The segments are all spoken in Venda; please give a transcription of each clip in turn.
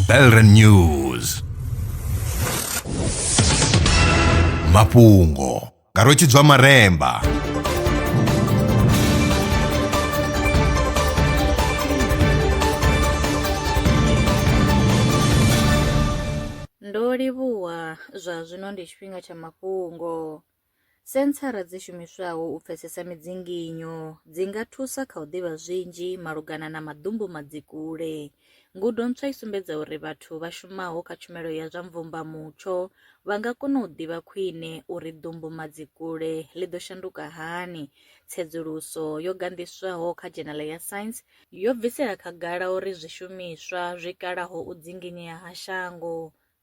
Belren News mafhungo nga rwetshidzwa maremba ndo livhuwa zwa zwino ndi tshifhinga tsha mafhungo Senthara dzi shumiswaho u pfesesa midzinginyo dzi nga thusa kha u ḓivha zwinzhi malugana na maḓumbu madzikule. Ngudo ntswa i sumbedza uri vhathu vha shumaho kha tshumelo ya zwa mvumbamutsho vha nga kona u ḓivha khwine uri ḓumbu madzikule ḽi ḓo shanduka hani. Tsedzuluso yo ganḓiswaho kha dzhenala ya Science yo bvisela khagala uri zwishumiswa zwi kalaho u dzinginyea ha shango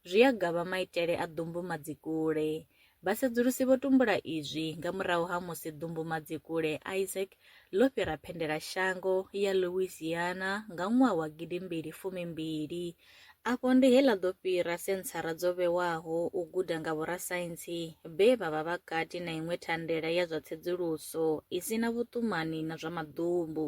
Zwi a gavha maitele a ḓumbumadzikule. Vhasedzulusi vho tumbula izwi nga murahu ha musi ḓumbumadzikule Isaac ḽo fhira phendelashango ya Louisiana nga ṅwaha wa gidi mbili fumi mbili. Afho ndi he ḽa ḓo fhira senthara dzo vhewaho u guda nga vhorasaintsi vhe vha vha vha kati na iṅwe thandela ya zwa tsedzuluso i si na vhuṱumani na zwa maḓumbu.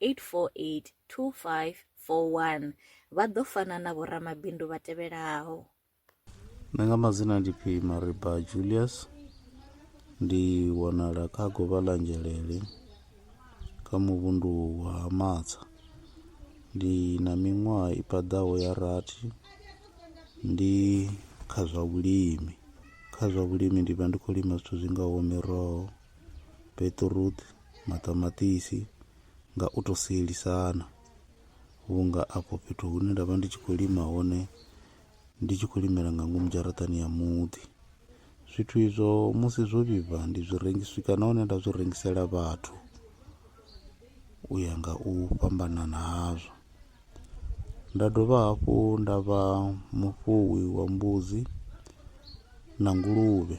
8482541 vha ḓo fana na vhoramabindu vha tevhelaho nṋe nga madzina ndi phi mariba julius ndi wanala kha govha ḽa nzhelele kha muvhundu wa matsa ndi na miṅwaha i paḓaho ya rathi ndi kha zwa vhulimi kha zwa vhulimi ndi vha ndi khou lima zwithu zwi ngaho miroho beṱiruṱi, maṱamaṱisi nga u to sielisana vhunga afho fhethu hune nda vha ndi tshi khou lima hone ndi tshi khou limela nga ngomu dzharaṱani ya muḓi zwithu izwo musi zwo vhibva ndi zwi rengisa swika nahone nda zwi rengisela vhathu u ya nga u fhambanana hazwo nda dovha hafhu nda vha mufuwi wa mbudzi na nguluvhe.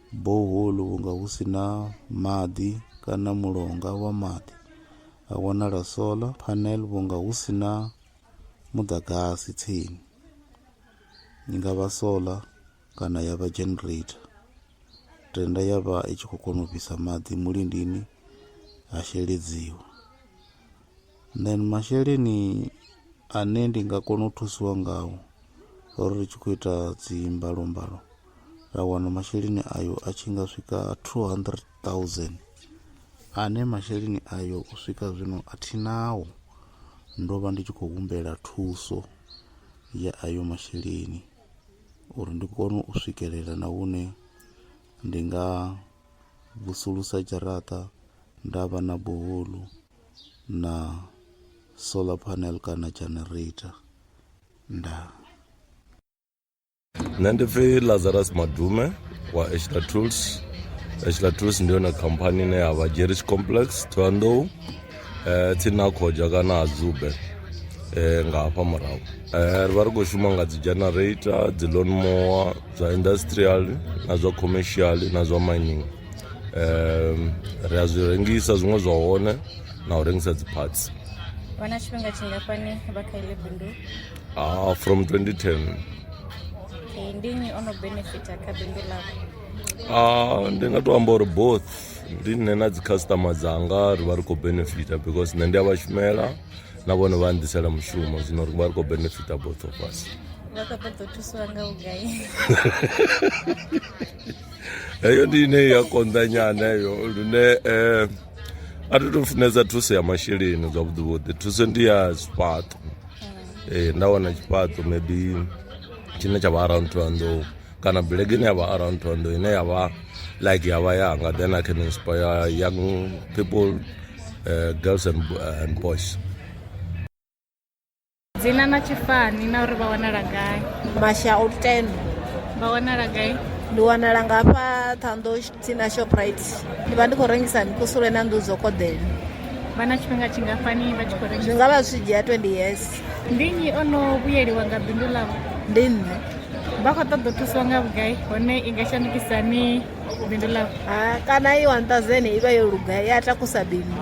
Borehole vhunga hu si na maḓi kana mulonga wa maḓi, ha wanala solar panel vhunga hu si na muḓagasi tsini. I nga vha solar kana ya vha generator, tenda ya vha i tshi khou kona u fhisa maḓi mulindini ha sheledziwa. then masheleni ane ndi nga kona u thusiwa ngao ro ri tshi khou ita dzi mbalombalo ra wana masheleni ayo a tshi nga swika 200000 ane masheleni ayo u swika zwino a thi nao ndo vha ndi tshi khou humbela thuso ya ayo masheleni uri ndi kone u swikelela na hune ndi nga vusulusa dzharaṱa nda vha na buhulu. na solar panel kana generator ndaa nṋe ndi pfi lazarus madume wa eshla tools eshla tools ndi yone khamphani ine ya vha jerish complex thohoyandou um eh, tsini na khoja kana ha zube um nga hafha murahu um ri vha ri khou shuma nga dzi generator dzi loan moa zwa industrial na zwa commercial na zwa mining um ri a zwi rengisa zwiṅwe zwa hone na u rengisa dzi parts vha na tshifhinga tshingafhani vha kha ile bindu ah, from 2010 okay, ndi nnyi o no benefita kha bindu lako ah, ndi nga to amba uri both ndi nṋe na dzi customer dzanga ri vha ri khou benefita because nṋe ndi a vha shumela na vhone vha ndisela mushumo zwino ri vha ri khou benefita both of us vha khou ṱoḓa u thusiwa nga vhugai heyo ndi ine ya konḓa nyana heyo lune um a thi to funesa thuso ya masheleni zwavhuḓi vhuḓi thuso ndi ya zwifhaṱo ee nda wana tshifhaṱo maybe tshine tsha vha around two hundred kana bulege ine ya vha around two hundred ine ya vha like ya vha yanga then i can inspire young people uh, girls and, and boys dzina na tshifani na uri vha wanala gai masha o ten vha wanala gai ndi wanala nga hafha ṱhando tsina shoprite ndi vha ndi khou rengisa mikusule na nḓu dzo koḓela vha na tshifhinga tshingafhani vha tshi khou rengisa zwi nga vha zwi dzhia 20 years ndi nnyi o no vhuyeliwa nga bindu ḽavho ndi nṋe vha khou ṱoḓa u thusiwa nga vhugai hone i nga shandukisa ni bindu ḽavho kana i 1000 i vha yo luga i a takusa bindu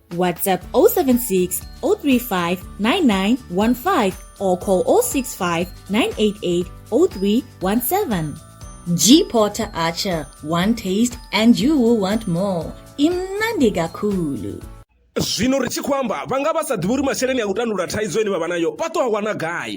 WhatsApp 076 035 9915 or call 065 988 0317. G Porter Archer, one taste and you will want more. Imnandi Gakulu. zwino ri tshi khou amba vha nga vha sa ḓivhi uri masheleni a u tandulula thaidzo ine vha vha nayo vha ṱo a wana gai